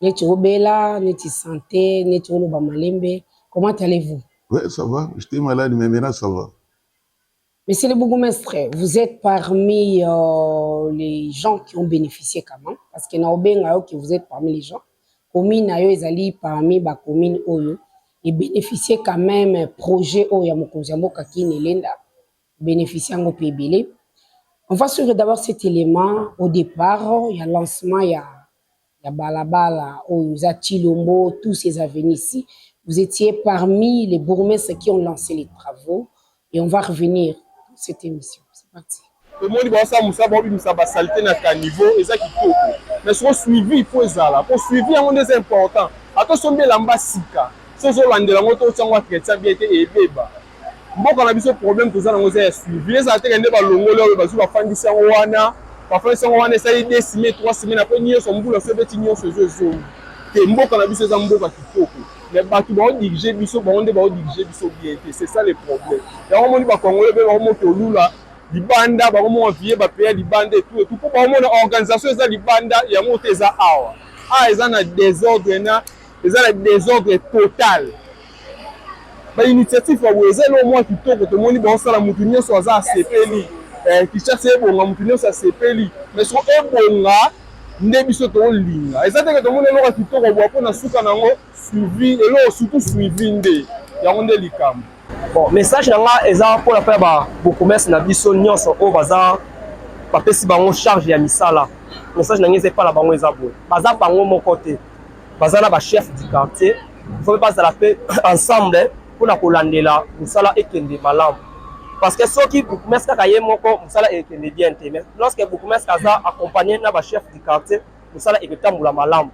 neti obela neti sante neti oloba malembe comment allez vous. Ouais ça va j'étais malade mais maintenant ça va. Monsieur le bourgmestre, vous êtes parmi euh, les gens qui ont bénéficié quand même, parce que naobenga yo que vous êtes parmi les gens. Commune ayo ezali parmi ba communes oyo et bénéficier quand même projet oyo ya mokonzi ya mboka kini elenda bénéficier yango mpe ebele. On va suivre d'abord cet élément au départ ya lancement ya ya balabala oyo eza tshilombo tous ces avenues ici vous etiez parmi les bourgmestres qui ont lancé les travaux et on va revenir cette émission c'est parti tomoni baosala mosala baobimisa basalite na caniveau eza kitoko mais soko suivi il faut ezala mpo suivi yango nde eza important ata osombi elamba sika so ozolandela yango to otya yango entretien bien te ebeba mboka na biso problème toza nango eza ya suivi ezala teke nde balongoli oyo bazwi bafandisi yango wana bafandisi yango wana esali de semaine trois semaine apres nyonso mbula so ebeti nyonso ezo ezongi te mboka na biso eza mboka kitoko mais bato baodirige biso bango nde baodirige biso bien te c'est ça le problème yango omoni bakongole mpe bakomo tolula libanda bakomona vie bapeya libanda etu etu mpo bakomona organisation eza libanda yango te eza awa awa eza na desordre na eza na desordre total ba initiative ya boye eza eloko mwa kitoko tomoni baosala motu nyonso aza asepeli eh, kinshasa ebonga motu nyonso asepeli mais soko ebonga nde biso tolinga eza teke tomoni eloko ya kitoko boya mpo na suka na yango suivi eloko surtout suivi nde yango nde likambo bon message na nga eza mpona mpe ya babokomese na biso nyonso oyo baza bapesi bango charge ya misala message na ngai eza epai na bango eza boye baza bango moko te baza na bachef du quartier faut bazala mpe ensemble mpo na kolandela mosala ekende malamu parce que soki bourgmestre kaka ye moko mosala ekende bien te mais lorsque bourgmestre aza accompagné na bachef du quartier mosala ekotambola malamu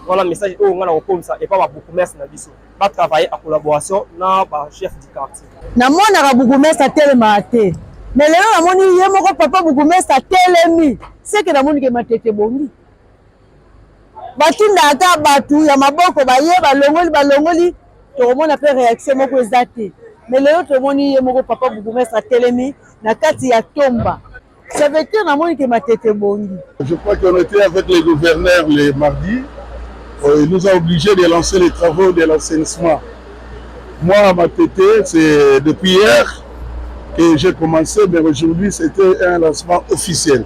wana message oyo ngai nakokomisa epa babourgmestre na biso batravaille a collaboration na bachef du quartier namonaka bourgmestre atelemaka te mais lelo namoni ye moko papa bourgmestre atelemi seke namoni ke matete ebongi batinda ata bato ya maboko baye balongoli balongoli tokomona mpe reaction moko eza te mais lelo tomoni ye moko papa bourgmestre atelemi na kati ya tomba ça veut dire namoni ke matete ebongi je crois qu'on était avec les gouverneurs le mardi euh, il nous a obligé de lancer les travaux de l'assainissement moi matete c'est depuis hier que j'ai commencé mais aujourd'hui c'était un lancement officiel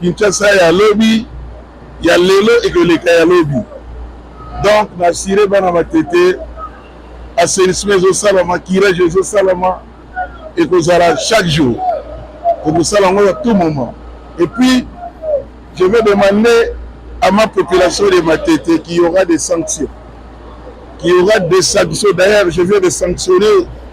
Kinshasa ya lobi ya lelo ekoleka ya lobi donc na assure bana Matete assainissement ezosalama curage ezosalama ekozala chaque jour tokosala yango ya tout moment et puis je vais demander à ma population de Matete qu'il y aura des sanctions qu'il y aura des sanctions d'ailleurs je viens de sanctionner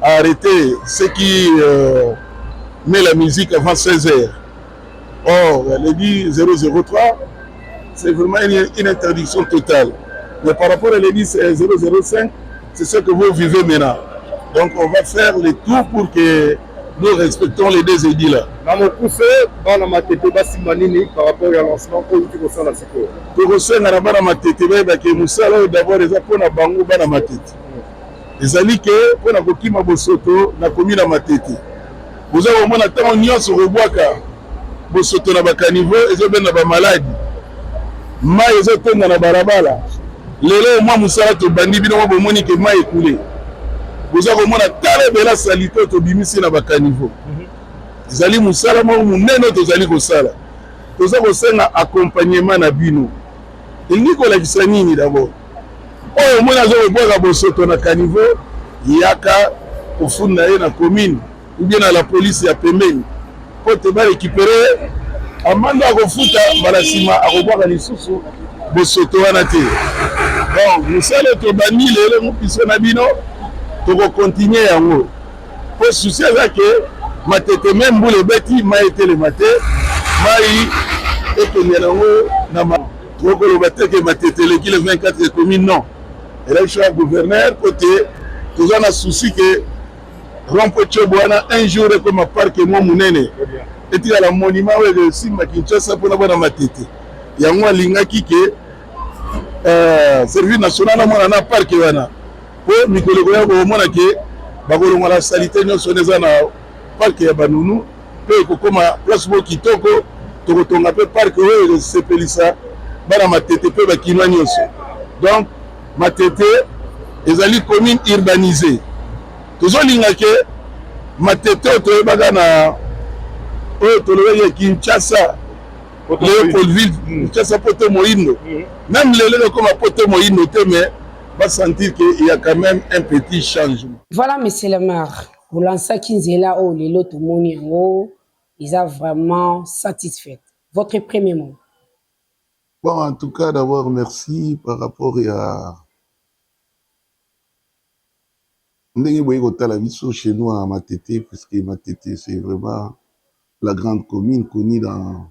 arrete ce qui euh, met la musique avant 16 heures or le dit 003 c'est vraiment une, une interdiction totale mais par rapport à le dit 005 c'est ce que vous vivez maintenant donc on va faire le tout pour que nous respectons les deux edits là na mokuse bana matete basimba nini par rapport ya lancement oyo outi kosala sikoyo tokosenga na bana matete bayebake mosala oyo d'abord eza mpo na bango bana matete Ezali ke mpo na kokima bosoto na komi na matete. Boza komona ntango nyonso kobwaka bosoto na bakanivo ezobenda bamaladi, mai ezotonda na balabala. Lelo mwa mosala tobandi bino mwa bomoni ke mai ekule. Boza komona tala ebela salite oyo tobimisi na bakanivo. Ezali mosala moko monene oyo tozali kosala. Toza kosenga accompagnement na bino. Elingi kolakisa nini dabord? oyo omoni aza kobwaka bosoto na caniveau yaka kofunda ye na commune ubie na la polise ya pembeni mpo te barekipere ye amande akofuta mbala nsima akobwaka lisusu bosoto wana te donc mosala tobandi lelo biso na bino tokokontinue yango mpo susi eza ke matete me mbula ebeti mai etelema te mai ekende yango na Trop koloba te ke matete eleki le 24 ekomi non election ya gouverneur po te toza na souci ke rompo cobo wana un jour ekoma parke mwa monene etikala monima oyo ekosimba kinshasa mpona bana matete yango alingaki ke euh, service national amona na parke wana mpo mikolo ekoya komona ke bakolongola salite nyonso wana eza na parke ya banunu mpe ekokoma place moko kitoko. Tokotonga mpe parke oyo ekosepelisa bana Matete mpe bakinois nyonso. Donc Matete ezali commune urbanisee. Tozolinga ke Matete oyo toyebaka na oyo tolobaki ya Kinshasa Leopoldville mm. Kinshasa poto moyindo mm. même lelo ekokoma poto moyindo te mais basentir ke ya quand même un petit changement. Voilà monsieur le maire. Bolansaki nzela oyo lelo tomoni yango eza vraiment satisfaite. Votre premier mot? Bon, en tout cas, d'abord, merci par rapport à ndenge boye kotala biso chez nous à Matete, puisque Matete, c'est vraiment la grande commune connue dans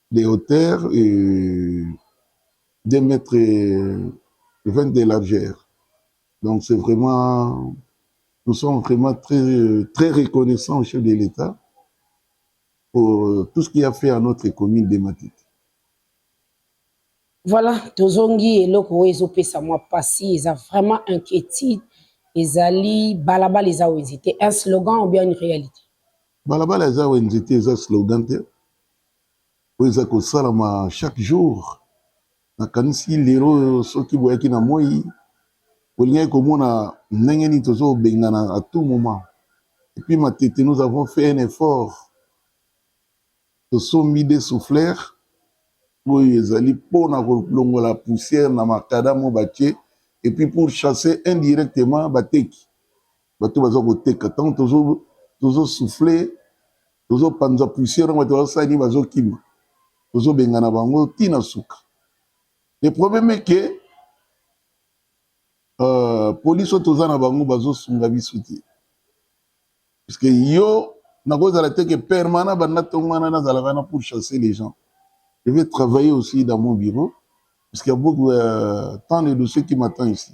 de hauteur et 2 mètres 20 de largeur. Donc c'est vraiment, nous sommes vraiment très, très reconnaissants au chef de l'État pour tout ce qu'il a fait à notre commune de Matite. Voilà, tozongi eloko oyo ezopesa mwa pasi eza vraiment inquiétude ezali balabala eza wenze te un slogan ou bien une réalité balabala eza wenze te eza slogan te oyo eza kosalama chaque jour nakanisi lelo oyo soki boyaki na moi bolingaki komona ndenge nini tozobengana à tout moment epuis matete nous avons fait un effort tosombi de soufflere oyo ezali mpona kolongola poussière na makadamo batie epuis pour chasser indirectement bateki bato baza koteka ntango tozosufle tozopanza poussière yango bato bazosala nini bazokima tozobengana bango ti na suka le problème eke euh, polise oyo toza na bango bazosunga biso te puisque yo nakozala te ke permanent banda ntongo wana nazalaka wana pour chasser les gens je vais travailler aussi dans mon bureau puisqu'il y a beaucoup euh, tant de dossiers qui m'attend ici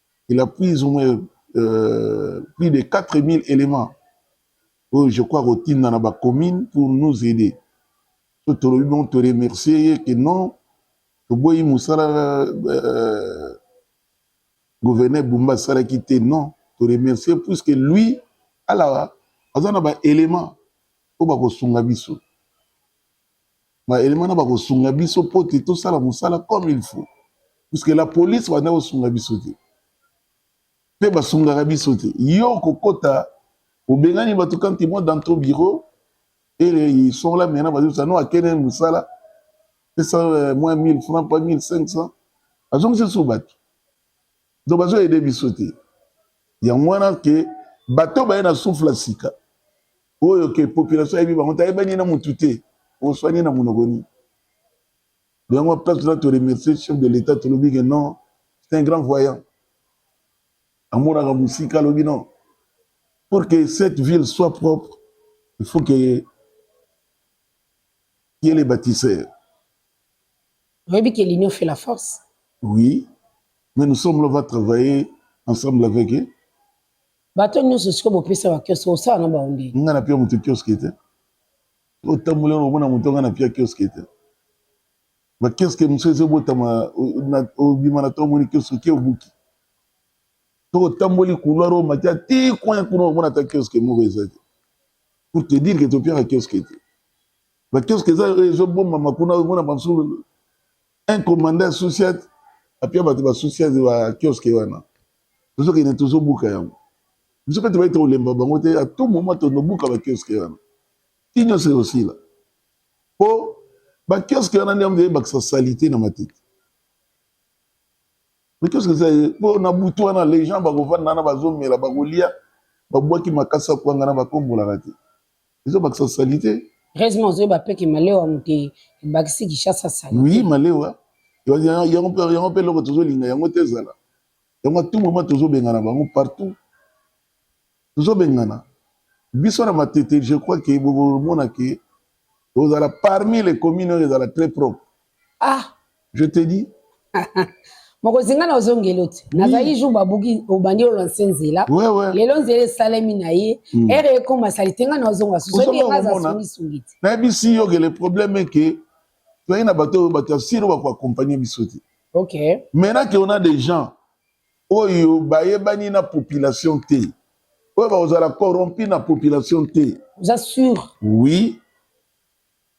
il a plus ou moins euh, plus de 4000 éléments oyo je crois kotinda na bacommune pour nous aider so tolobi bongo to remercier ye ke non toboyi mosala euh, gouverneur bumba asalaki te non to remercier puisque lui ala aza na baélément oyo bakosunga biso ba elema na bakosunga biso mpo te tosala mosala comme il faut puisque la police banda kosunga biso te mpe basungaka biso te yo okokota obengani bato quand ils vont dans ton bureau et ils sont là maintenant bazobisa no akende mosala pesa euh, moins 1000 francs pas 1500 azongisi lisusu bato donc bazo aide biso te yango wana ke bato baye na souffle ya sika oyo ke population ayebi bango te ayebani na mutu te oswani na monoko nini yango place na to remercier chef de l'état tolobi ke non c'est un grand voyant amonaka mosika alobi non pour que cette ville soit propre il faut que ye le bâtisseur oyebi ke l'union fait la force oui mais nous sommes là va travailler ensemble avec eux Bato nyonso sikoyo bopesa ba kioske osala na bango ndenge. Nga na pia moto kioske te. Otambola na omona moto nga na pia kioske te. Ba kioske mosusu ezo botama obima na to omoni kioske ke obuki. To otamboli couloir o matia ti coin kuna omona ta kioske moko eza te. Pour te dire que to piaka kioske te. Ba kioske eza ezo bomama kuna omona banso un commandant ya sociate apia bato ba sociate ba kioske wana tozokende tozobuka yango biso mpe tobai tokolemba bango te atout moma tonobuka bakioske wana ti nyonso ekosila mpo bakioske wana nde yango eyebakisa salite na matete bakioske eza ye mpo na butu wana les gens bakovanda wana bazomela bakolia babwaki makasi ya kwanga na bakombolaka te ezo bakisa salite heureusement ozoyeba mpe ke malewa moto e- ebakisi kishasa salite oui malewa Ya- ya- yango mpe- yango mpe eloko tozolinga yango te ezala yango tout moment tozobengana bango partout tozobengana biso na matete je crois ke bokomona ke tozala parmi les communes oyo ezala très propre ah je te dis mokonzi ngai nazongeli oti nazalaki jour babuki obandi olanse nzela lelo nzela esalemi na ye hmm. ere ekoma salite ngai nazonga susuebiazasungisungi te nayebisi yo ke le problème eke toyei na bato oyo bato ya siro bakoakompagne biso te ok maintenant ke ona des gens oyo bayebani na population te oyo bakozala corrompu na population te oza sur oui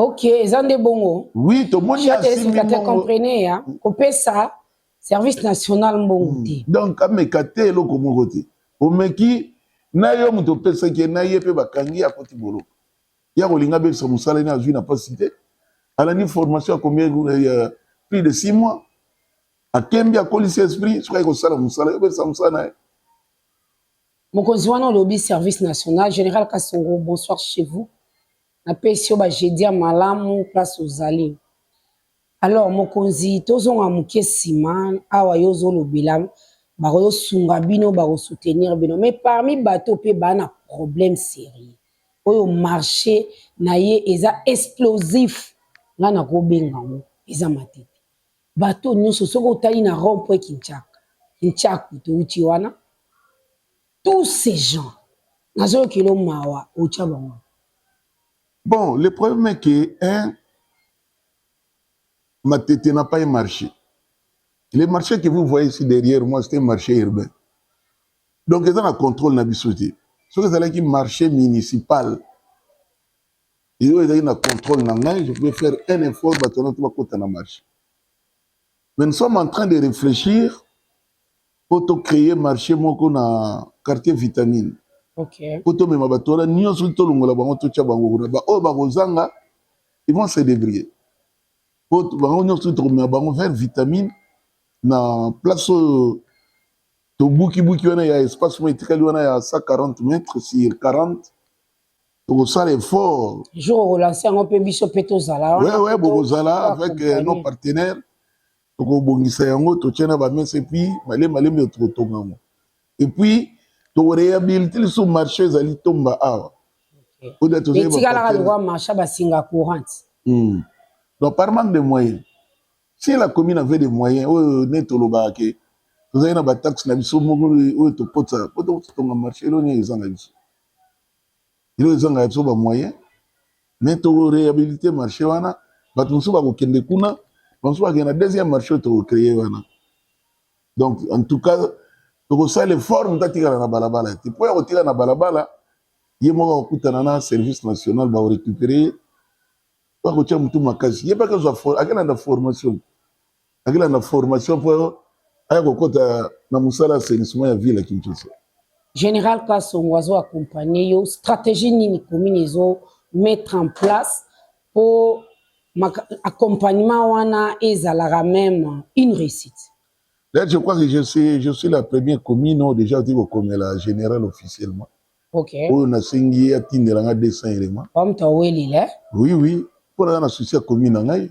Ok, eza nde bongo. Oui, tomoni ya simbi mbongo. comprenez ya kopesa service national mbongo hmm. te. Donc ameka te eloko moko te. Omeki na yo moto opesaki ye na ye mpe bakangi akoti boloko. Ya kolinga abebisa mosala ene azwi na mpasi te. Alandi formation ya combien ya plus de 6 mois. Akembi akolisi esprit soki aye kosala mosala yo obebisa mosala na ye. Mokonzi wana olobi service national general kasongo bonsoir chez vous na pesi yo ba jeudi ya malamu place ozali alors mokonzi tozonga moke nsima awa yo ozolobela bakoyosunga bino bakosoutenir bino mais parmi bato mpe baa na problème sérieux oyo marché na ye eza explosif ngai nakobenga yango eza matete Bateau nyoso soki otali na rond point Kinshaka, Kinshaka touti wana, tous ces gens nazoyokela mawa otya bango. Bon, le problème est que hein, Matete n'a pas un marché. Le marché que vous voyez ici derrière moi, c'est un marché urbain. Donc, ils ont un contrôle na biso te. Ce que c'est un marché municipal. Iyo ezali na contrôle na ngai, je pouvais faire un effort bato wana to bakota na marché. Mais nous sommes en train de réfléchir mpo to créer marché moko na quartier vitamine okay. mpo tomema bato wana nyonso tolongola bango totya bango kuna baoyo bakozanga ils vont se débrouiller mpo bango nyonso tokomema bango vers vitamine na place oyo tobukibuki wana ya espace moko etikali wana ya 140 mètres sur 40 tokosala effort jour okolanse yango mpe biso mpe tozala wewe bokozala avec euh, nos partenaires tokobongisa yango totie na bamesa epuis malembe malembe tokotonga yango epuis tokorehabilite lisusu marché ezali tomba awa etikalaka lokwa marché basinga courante hmm. donc par manque de moyen si la commune avait des moyens oyo ne tolobaka ke tozali na bataxe na biso moko oyo tokotisa po totonga marché eloni ezanga biso ino ezanga ya biso ba moyen mais toko rehabilite marché wana bato mosusu bakokende kuna bamosusu bakende na deuxième marché oyo tokocreye wana donc en tout cas tokosala effort moto atikala na balabala te mpo ya kotikala na balabala ye moko akokutana na service national bakorecupere ye bakotya motu makasi ye mpe akozwa akelanda formation akilanda formation mpo aya kokɔta na mosala ya assainissement ya ville ya kinshasa général kasongo azo accompagne yo stratégie nini commune ezo mettre en place mpo accompagnement wana ezalaka même une réussite Là, je crois que je suis, je suis la première commune oyo déjà oti kokomela général officiellement okay. oyo nasengi ye atindela ngai 200 élément oui oui mpo naza na souci ya commune na ngai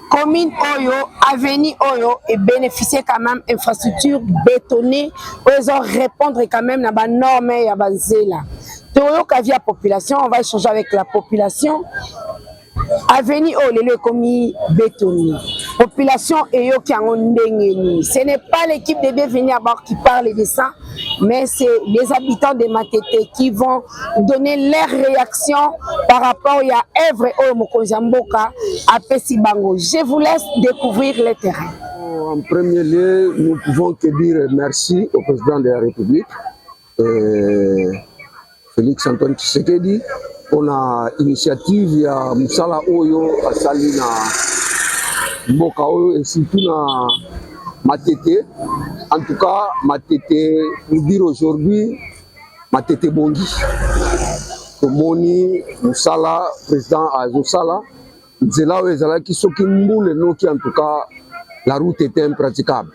commune oyo avenue oyo e beneficier quand même infrastructure bétonnée oyo ezo répondre quand même na ba normes ya banzela toyoka via population on va échanger avec la population avenue oyo lelo ekomi bétonnée population eyoki yango ndenge nini ce n'est pas l'équipe de bienvenue à bord qui parle de ça mais c'est les habitants de matete qui vont donner leur réaction par rapport ya œuvre oyo mokonzi ya mboka apesi bango. Je vous laisse découvrir le terrain. En premier lieu, nous pouvons que dire merci au président de la République, euh, Félix Antoine Tshisekedi, pour la initiative ya mosala oyo asali na mboka oyo et surtout na Matete. En tout cas, Matete, pour dire aujourd'hui, Matete ebongi, tomoni mosala president azosala nzela oyo ezalaki soki mbula enoki en tout cas la route était impraticable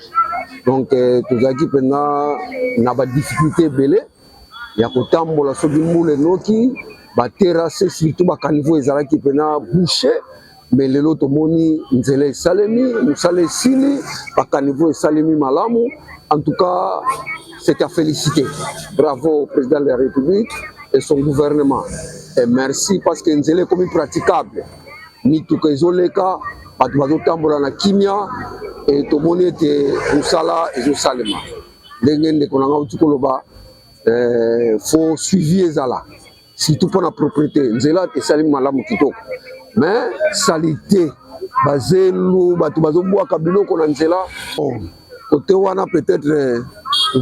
donc euh, tozalaki mpenza na badifficulté ebele ya kotambola soki mbula enoki baterase surtout bakaniveau ezalaki mpenza bouche me lelo tomoni nzela esalemi mosala esili bakaniveau esalemi malamu en tout cas c'est à féliciter bravo au président de la république et son gouvernement et merci parce que nzela ekomi praticable mituka ezoleka bato bazotambola na kimia e tomoni ete mosala ezosalema ndenge ndeko na ngai auti koloba eh, fo suivi ezala surtout pona propriété nzela esali malamu kitoko mais salite bazelu bato bazobwaka biloko na nzela kote oh, wana peut-être euh,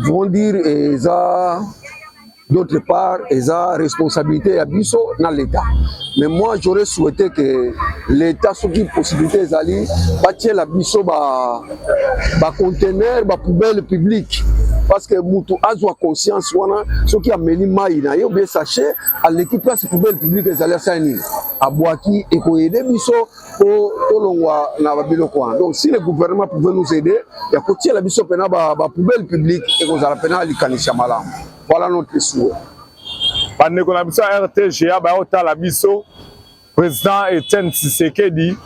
vont dire eza d'autre part eza responsabilité ya biso na leta mais moi j'aurais souhaité que leta soki possibilité ezali batiela biso ba ba conteneur ba poubelle publique parce que mutu azwa conscience wana soki ameli mai na ye obie sachet aleki place poubelle publique ezali asali nini abwaki ekoyede biso po tolongwa na babiloko wana donc si le gouvernement pouvait nous aider ya kotiela biso mpena ba, ba poubelle publique ekozala mpena likanisi ya malamu voilà notre souhait bandeko na biso ya rtga baya kotala biso President Etienne Tshisekedi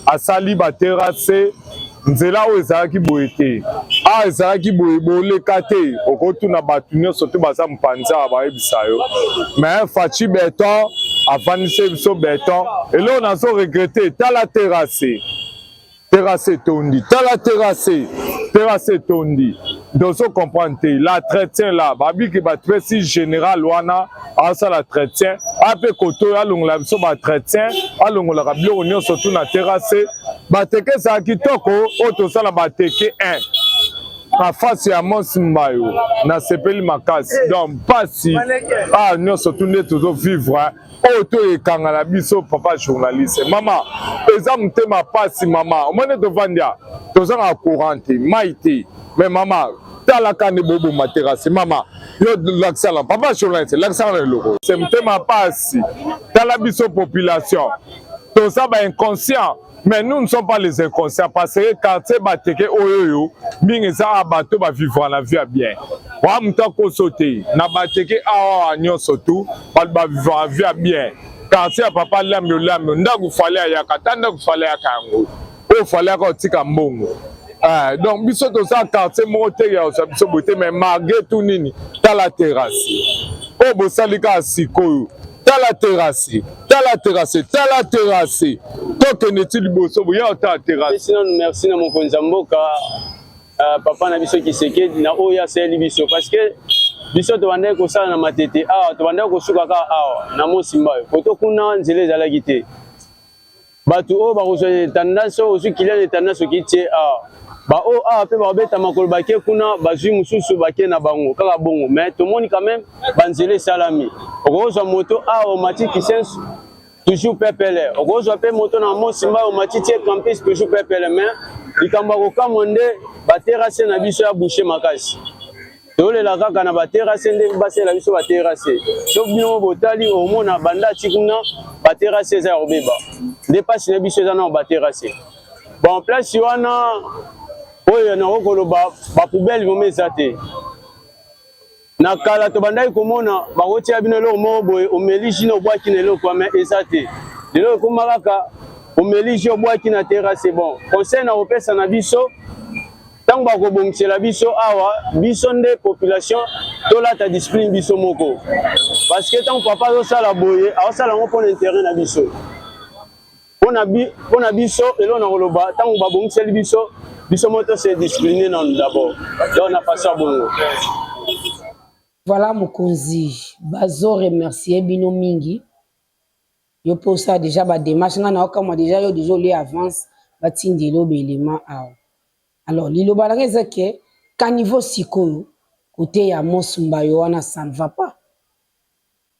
asali baterase nzela oyo ezalaki boye te a ah, ezalaki boye boleka te okotuna bato nyonso te baza mpanza bayebisa yo mais faci beton afandisi biso beton eloo nazo regrete tala terase Terrasse etondi, tala terrasse, terrasse etondi. Dozo comprendre te, la traitien la, babiki ba tresi general wana, asala traitien, ape koto alongola biso ba traitien, alongolaka biloko nyonso tout na terrasse, bateke ezala kitoko oyo toza na bateke 1 na face ya mos mbayo nasepeli makasi donc mpasi ah nyonso tu nde tozovivre oyo to ekanga na biso papa journaliste mama eza motema pasi mama omoni tovandia tozanga courant te mai te mais mama talaka nde boboma terase mama yo lakisala papa journaliste lakisala na eloko se motema pasi tala biso population toza ba inconscient mais nous ne sommes pas les inconscients parce que quartier bateke oyo oyo mingi eza awa bato bavivra na vie ya bien oya moto akoso te na bateke awa nyonso tu bato bavivra na vie ya bien quartier ya papa lami olami ndako fale ayaka ata ndako fale ayaka yango oyo fale ayaka otika mbongo Eh, donc biso toza quartier moko te ya osa biso boye te mais malgré tout nini tala terrasse oyo bosali kaka sikoyo tala terrasse tala terase tala terase tokende ti liboso boya otala terase nanu merci na mokonzi ya mboka uh, papa na biso kisekedi na oyo asaleli biso parce que biso tobandaki kosala na matete awa tobandaki kosuka kaka awa na mosimba oyo koto kuna nzela ezalaki te Bato oyo bakozwa etandasi oyo ozwi kiliani etandasi oki tie awa baoyo awa mpe bakobeta makolo bake kuna bazwi mosusu bake na bango kaka bongo me tomoni quand même banzela esalami okozwa moto awa omati kisensu toujours pepele okozwa mpe moto na mosi mbai omati tie campus toujours pepele me likambo ya kokamwa nde baterase na biso ya bushe makasi tolela kaka na baterase nde basela biso baterase soki bino botali omona banda ti kuna baterase eza ya kobeba nde mpasi na biso eza nao baterase bon place wana oyo nango koloba bapoubele vraimen eza te na kala tobandaki komona bakotia bino eloko moko boye omeli jina obwaki na eloko ame eza te lelo ekoma kaka omeli ji obwaki na terase bon conseil na kopesa na biso ntango bakobongisela biso awa biso nde population tolata discipline biso moko parce que ntango papa azosala boye azosala yango mpo na interet na biso mpo na biso eloo na koloba ntango babongiseli biso biso moko tose discipline nanu dabord donc na façon ya bongo voilà mokonzi bazo remercier bino mingi Yo pe osala dejà ba demarche nga nao kamwa dejà yo dejà olie avance ba tindela yo ba element awa alors liloba nanga eza ke caniveau sikoyo kote ya mos mbayo wana ça ne va pas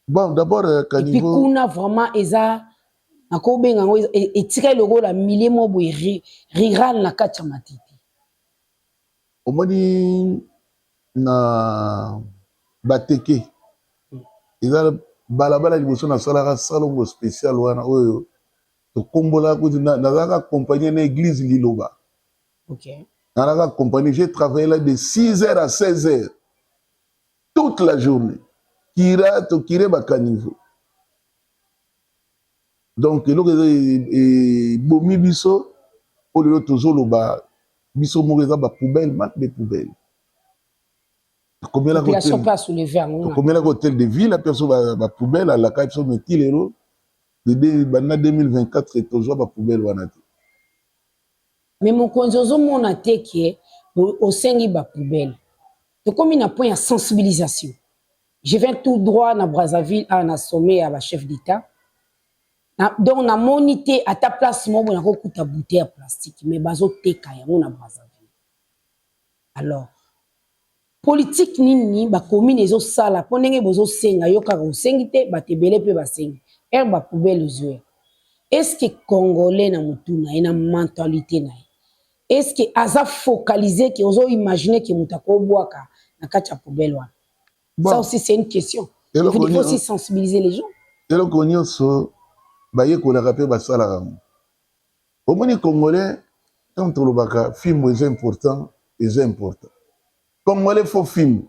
bon d'abord euh, caniveau epi kuna vraiment eza nakobenga yango etikali lokola milieu moko boye rural na kati ya matete omoni na bateke eza balabala liboso nasalaka salongo special wana oyo tokombola kuti nazalaka accompagne na église liloba okay. nazalaka accompagne j'ai travaillé là de 6 heures à 16 heures toute la journée kira tokire bacaniveau donc eloko eza ebomi e, biso mpo lelo tozoloba biso moko eza ba poubelle mat de poubelle tokomelaka hotel de ville ape biso ba poubelle alaka biso meti lelo banda 2024 tozwa ba poubelle wana te mais mokonzi ozomona te ke osengi ba poubelle tokomi na point ya sensibilisation Je viens tout droit na Brazzaville awa na sommet ya ba chef d'etat. Na, donc namoni te ata place moko boye nakokuta bouteille ya plastique mais bazoteka yango na Brazzaville. Alors politique nini ba commune ezosala mpo ndenge bozosenga yo kaka osengi te bato ebele mpe basengi ere ba poubelle ezwe eske congolais na motu na ye na mentalite na ye eske aza focalise ke ozoimagine ke moto akobwaka na kati ya poubelle wana Bon. Ça aussi, c'est une question. Eloko Il faut nini- aussi sensibiliser les gens. eloko nyonso bayekolaka mpe basalaka yango omoni congolais ntango tolobaka fimbo eza important eza important congolais fo fimbo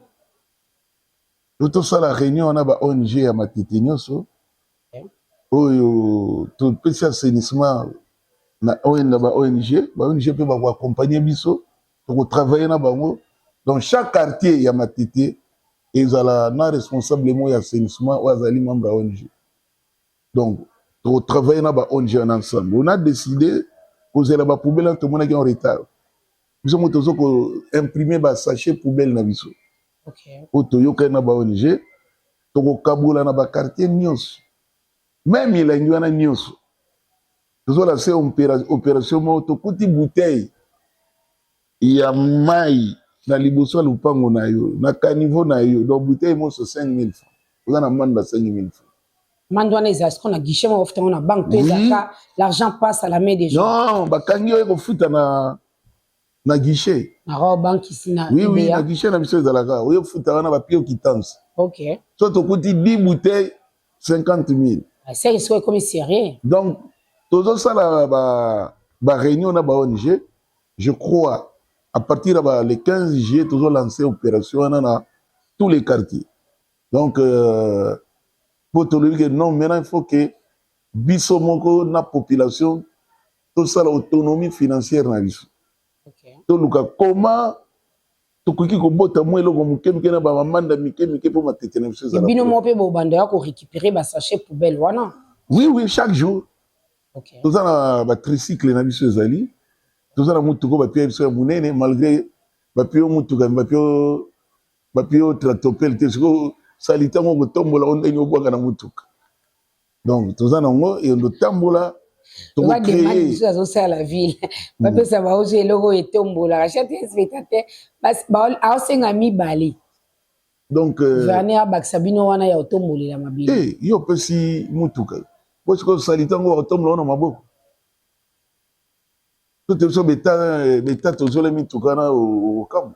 to tosala réunion wana ba ong ya matete nyonso oyo topesi assainissement na ON na ba ong ba ong mpe bakoaccompagne biso toko travailler na bango donc chaque quartier ya matete ezala na responsable moko ya assainissement oyo azali membre ya ong donc toko travailler na ba ong wana ensemble on a décidé kozela ba poubelle wana tomonaki en retard biso mo tozo ko imprimer ba sachet poubelle na biso oyo toyokani na ba ong tokokabola na ba quartier nyonso Meme milangi wana nyonso tozola se operation moko tokuti bouteille ya mai na liboso ya lopango na yo na caniveau na yo donc bouteille monso 5000 francs oza na mande na 5000 francs mande wana eza siko na guichet moko ofutango na banque to ezaka l'argent passe à la main des gens non bakangi yo ekofuta na na guichet na robe banque ici na oui oui na guichet na biso ezalaka oyo futa wana ba pio kitans OK so to kuti 10 bouteilles 50000 ah, c'est que c'est comme sérieux donc tozo sala ba ba réunion na ba ONG je crois à partir ba le 15 juillet tozo lancer opération wana na tous les quartiers donc euh, po tolobi que non maintenant il faut que biso moko na population tosala autonomie financière na biso okay. toluka koma tokoki kobota mwa eloko moke moke na bamamanda mike mike mpo matete na biso ezala bino moko mpe bobanda ya korécupere basachet poubelle wana oui oui chaque jour okay. toza na batricycle na biso ezali toza na motuka bapia biso ya monene malgré bapio motuka bapio bapio tractopele te sikoyo salite yango okotombola o ndenge obwaka na motuka donc toza na yango yendo tambola tokokree azosala ville mm. bapesa baozo eloko oyo etombolaka chate spectateur aosenga mibale donc euh, verne abakisa bino wana ya otombolela mabele eh, yo opesi motuka po sikoyo osali ntango otombola wana maboko tote biso beta beta tozole mituka na okambo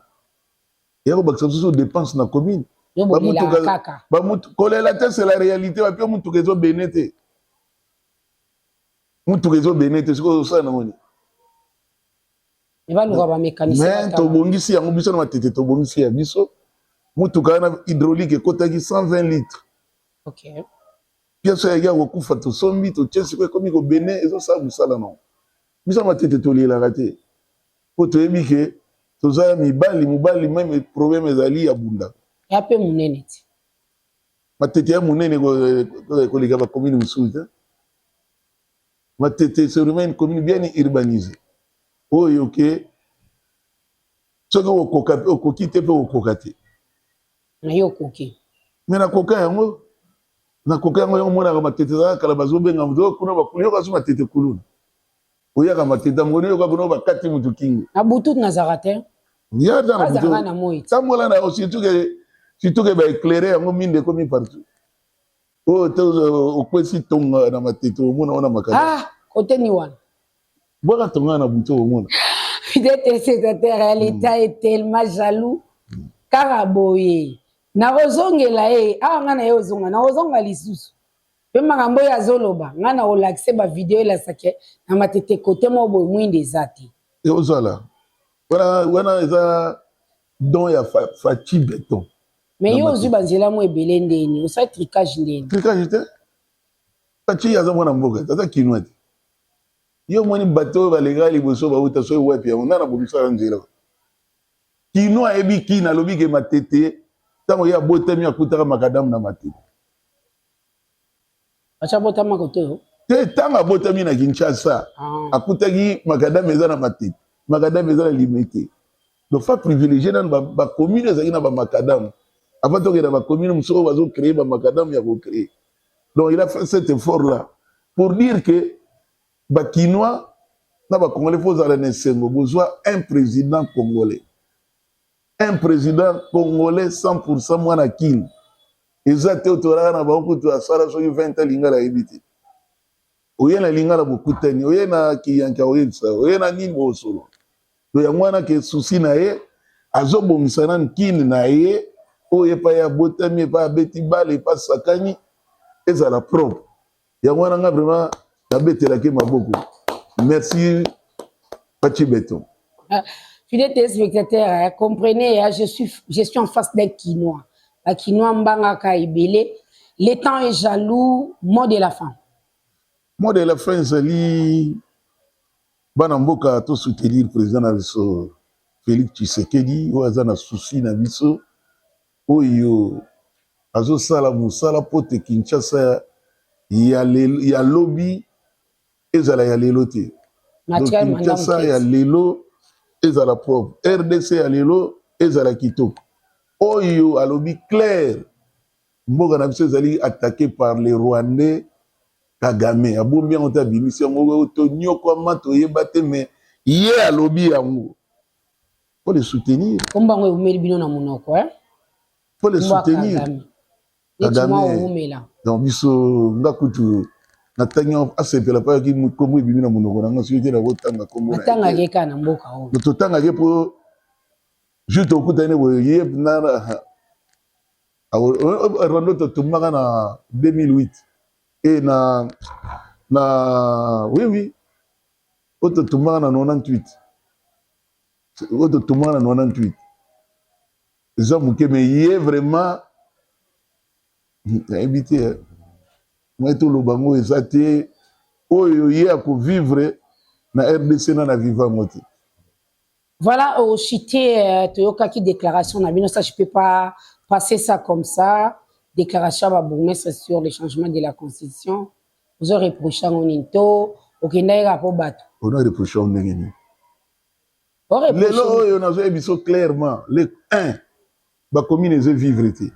eya kobakisa mosusu dépense na commune kolela te c'est la réalité wapi yo motuka ezo bene te motuka ezo bene te soki ozosala nango nini mais tobongisi yango biso na matete tobongisi ya biso motuka wana hydraulique ekotaki 120 litre okay. piaso yaki ya kokufa tosombi totie siko ekomi kobene ezosala mosala nango Biso ya matete tolielaka te mpo toyebi ke toza ya mibali mobali meme probleme ezali ya bunda ya mpe monene ti matete ya monene koleka bakomini mosusu te matete serumaine commune bien urbanise oyo ke soki okoki te mpe okoka te na yo okoki me nakoka yango nakoka yango yango monaka matete ezalaka kala bazobenga moto oh, kuna bakulu yoka so matete kuluna oyaka matete ya mokoni yoka kuna bakati moto kingo na butu nazalaka te yazalaka na moi tambola na yo situke situke baeclaire yango minde ekomi partout Oh, euh, okwesi tonga na matete omona wana makala ah, kote ni wana bwaka tonga na butu omona fidèle téléspectateur ya l'état est tellement jaloux kaka boye nakozongela ye awa ngai na ye ozonga nakozonga lisusu mpe makambo oyo azoloba ngai nakolakise bavideo elasake na matete kote moko boye mwinda eza te eozala wana eza don ya faci beton Mais yo ozui ba nzela mo ebele ndeni, osali tricage ndeni. Tricage te. Fatshi aza mwana mboka, aza kinois te. Yo moni bato oyo baleka liboso bauta soki wapi yango nana bomisaka nzela. Kinois ayebi kina alobi ke matete ntango ye abotami akutaka makadamu na matete. Basi abotama kote yo? Te, ntango abotami na Kinshasa, ah. akutaki makadame eza na matete, makadame eza na limete. Donc fa privilégier nanu ba commune ezalaki na ba makadame. Avant tokenda ba commune mosusu bazo créer ba makadame ya ko créer. Donc il a fait cet effort là pour dire que ba Kinois na ba Congolais faut zala na esengo bozwa un président congolais. Un président congolais 100% mwana Kin. eza te otolaka na bango kutu asala soki 20 lingala ayebi te oye na lingala bokutani oye na kiyanke akoyebisa oye na nini bosolo to yango wana ke susi na ye azobongisa na nkini na ye oyo epai abotami epai abeti bale epai asakani ezala propre yango wana nga vraiment nabetelaki maboko merci pachi beton fidèle téléspectateur hein, comprenez hein, je suis je suis en face d'un kinois ba kinois mbangaka ebele le temps est jaloux mot de la fin mot de la fin ezali bana mboka to soutenir président na biso Félix Tshisekedi oyo aza na souci na biso Oyo azo sala musala mpote Kinshasa ya lobi ezala ya lelo te. Donc Kinshasa ya lelo ezala propre. RDC ya lelo ezala kitoko. Oyo alobi claire mboka na biso ezali attaqué par les Rwandais Kagame abombi yango te abimisi yango tonyokwama toyeba te mais ye alobi yango. Faut les soutenir. Kombo yango eumeli bino na munoko eh. Faut les soutenir. Kagame. Donc biso nga kutu na tangi asepela pa ki kombo ebimi na munoko na nga soki te na ko tanga kombo. Tanga ke kana mboka oyo. To tanga ke po juste okutani boye ye na rwanda totumbaka na 2008 e na na oui oui oyo totumbaka na 98 oyo totumaka na 98 eza moke me ye vraiment nayebi te eh. ngai toloba yango eza te oyo ye akovivre na rdc na na viva yango te voilà oshite euh, toyokaki déclaration na bino ça je peux pas passer ça comme ça déclaration ya babourgmestre sur le changement de la constitution ozo reproche yango nini to okendaki kaka mpo bato ona reproche yango ndenge nini lelo oyo nazoya biso clairement le 1 bakomi nezo vivre te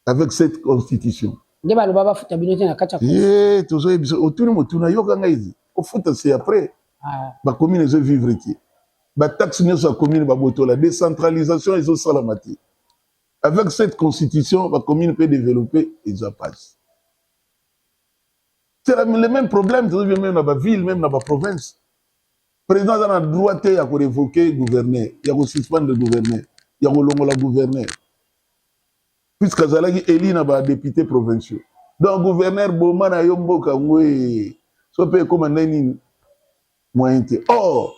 avec cette constitution nde baloba bafuta bino te na kati ya ye tozoya biso otuni motuna yoka ngai zi kofuta se après ah. bakomi nezo vivre te bataxe nyonso ya commune babotola décentralisation ezosalama te avec cette constitution bacommune mpe développe eza pasi C'est le même problème, tozo vivre même dans ba ville, même dans ba province. Président aza na droit te ya ko révoquer gouverneur, ya ko suspendre gouverneur, ya ko longola gouverneur. Puisque azalaki élu na ba députés provinciaux. Donc gouverneur boma na yo mboka ngwe. So pe ekoma nde nini? Moyen te. Or,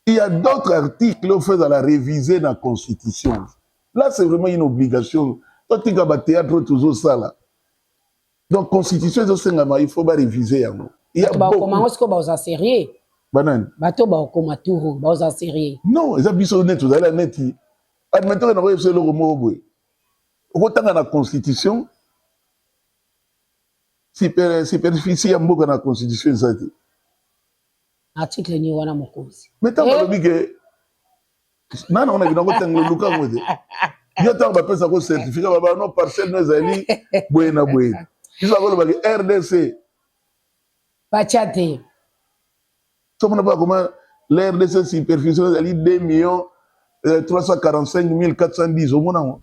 Il y a d'autres articles oyo feza la réviser na constitution. Là c'est vraiment une obligation. Totika ba théâtre oyo tozosala. Donc constitution ezosengama il faut ba réviser yango. Il y a Bato bakoma yango sikoyo baoza serieux banani bato bakoma turu baoza serieux non eza biso neti tozali neti admettre na koyebisa eloko moko boye okotanga na constitution superficie ya mboka na constitution eza te na article ni wana mokonzi mais ntango eh? alobi ke nani amonaki nango ntango oluka yango te yo ntango bapesa ko certificat baba no parcelle no ezali boye na boye biso akolobaki rdc batya te tomona mpo akoma la rdc superficie ezali 2 millions 345 euh, 410 omona yango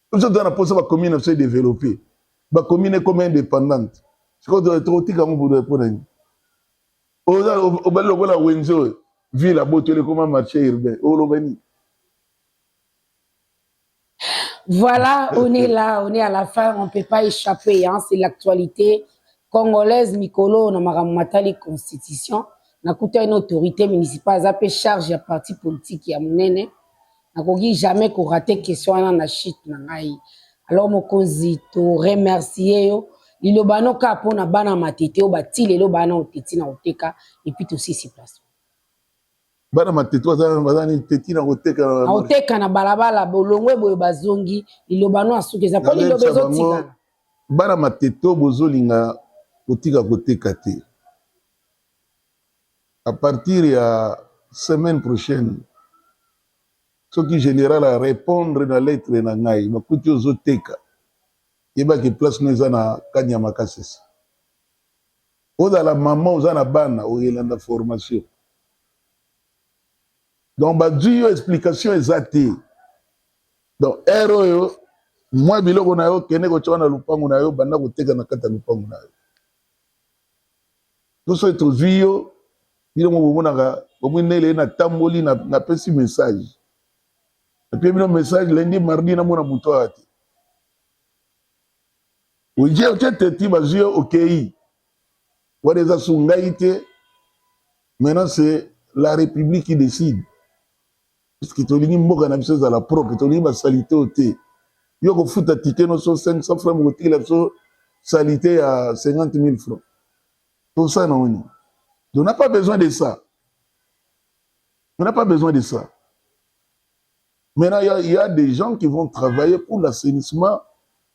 biso toza na posa bacommune na biso edeveloppe bacommune ekoma indépendante sikoyo tokotika yango bodo mpo na nini obali lokola wenze oyo ville abotoli ekoma marché urbain oloba nini Voilà, on est là, on est à la fin, on ne peut pas échapper, hein, c'est l'actualité congolaise, Mikolo, on a maramatali constitution, on a une autorité municipale, ça peut charge à parti politique, à mon aîné. Nakoki jamais ko rater question wana na chute na ngai. Alors mokonzi to remercier yo liloba no ka mpo na bana matete oyo bati lelo bana oteti na koteka epuis tosisi place bana matete baza nini teti na koteka na koteka na balabala bolongwe boye bazongi liloba no asuki eza mpo liloba ezotikana bana matete oyo bozolinga kotika koteka te à partir ya semaine prochaine soki general a repondre na lettre na ngai bakuti ozo teka yeba ke place no eza na kanyama kasese ozala mama oza na bana oyelanda formation donc bazwi yo explication eza te donc heure oyo mwa biloko na yo kende kotya na lupangu na yo banda koteka na kati ya lupangu na yo Tous ceux qui vu yo, bino bomonaka omwi nele na tamboli na napesi message. Napie bino message lundi mardi na mona moto awa te. Oje otie teti bazwi yo okei. Wana eza su ngai te. Maintenant c'est la république qui décide. puisque tolingi mboka na biso ezala propre tolingi basalite oyo te yo kofuta tike noso 500 franc mokotikela biso salite ya 50 000 franc tosala na oni on n'a pas besoin de ça on n'a pas besoin de ça maintenant il y, a, il y a des gens qui vont travailler pour l'assainissement